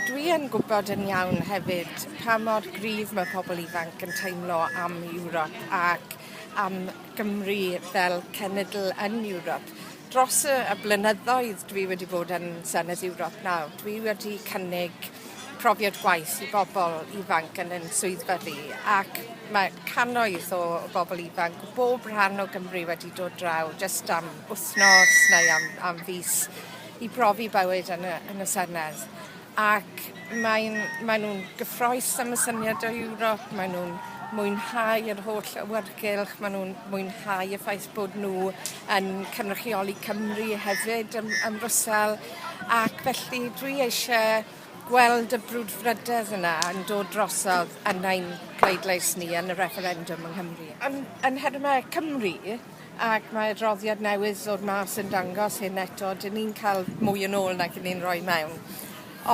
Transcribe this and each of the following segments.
Dwi yn gwybod yn iawn hefyd pa mor gryf mae pobl ifanc yn teimlo am Ewrop ac am Gymru fel cenedl yn Ewrop. Dros y y blynyddoedd dwi wedi bod yn Senedd Ewrop nawr, dwi wedi cynnig profiad gwaith i bobl ifanc yn yn swyddfa fi ac mae cannoedd o o bobl ifanc o bob rhan o Gymru wedi dod draw jyst am wythnos neu am am fis i brofi bywyd yn y, yn y Senedd. Ac mae'n, maen nhw'n gyffroes am y syniad o Ewrop, maen nhw'n mwynhau yr holl awyrgylch, maen nhw'n mwynhau y ffaith bod nhw yn cynrychioli Cymru hefyd ym, ym Mrwsel, ac felly dwi eisiau gweld y brwdfrydedd yna yn dod drosodd yn ein pleidlais ni yn y referendum yng Nghymru. Yn, yn nhermau Cymru, Ac mae adroddiad newydd ddod mas yn dangos hyn eto, 'dyn ni'n ca'l mwy yn ôl nag 'yn ni'n roi mewn.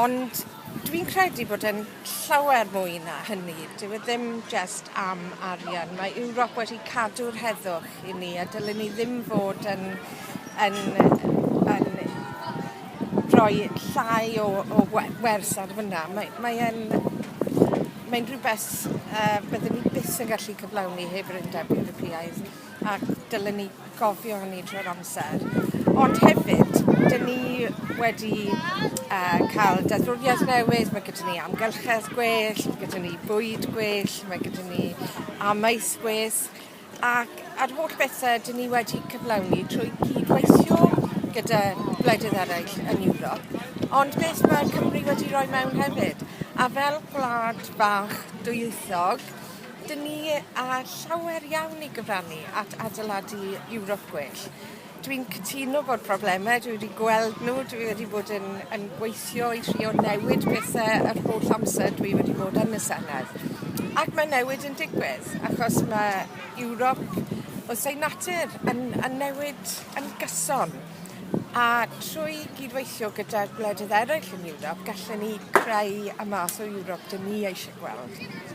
Ond dwi'n credu bod e'n llawer mwy na hynny. Dyw e ddim jest am arian. Mae Ewrop wedi cadw'r heddwch i ni a dylen ni ddim fod yn yn yy yn rhoi llai o o we- wers ar fynna. Mae mae e'n mae'n rhwbeth yy bydden ni byth yn gallu cyflawni heb yr Undeb Ewropeaidd. ac dylen ni gofio hynny trwy'r amser. Ond hefyd, dyn ni wedi uh, cael deddfwriaeth newydd, mae gyda ni amgylchedd gwell, mae gyda ni bwyd gwell, mae gyda ni amaeth gwell, ac ar holl bethau dyn ni wedi cyflawni trwy cydweithio gyda gwledydd eraill yn Ewrop, ond beth mae Cymru wedi rhoi mewn hefyd. A fel gwlad bach dwyieithog, Dyn ni â llawer iawn i gyfrannu at adeiladu Ewrop gwell. Dwi'n cytuno bod problemau, dwi wedi gweld nhw, dwi wedi bod yn, yn gweithio i trio newid pethau yr holl amser dwi wedi bod yn y Senedd. Ac mae newid yn digwydd, achos mae Ewrop wrth ei natur yn, yn newid yn gyson. A trwy gydweithio gyda'r gwledydd eraill yn Ewrop, gallen ni creu y math o Ewrop dyn ni eisiau gweld.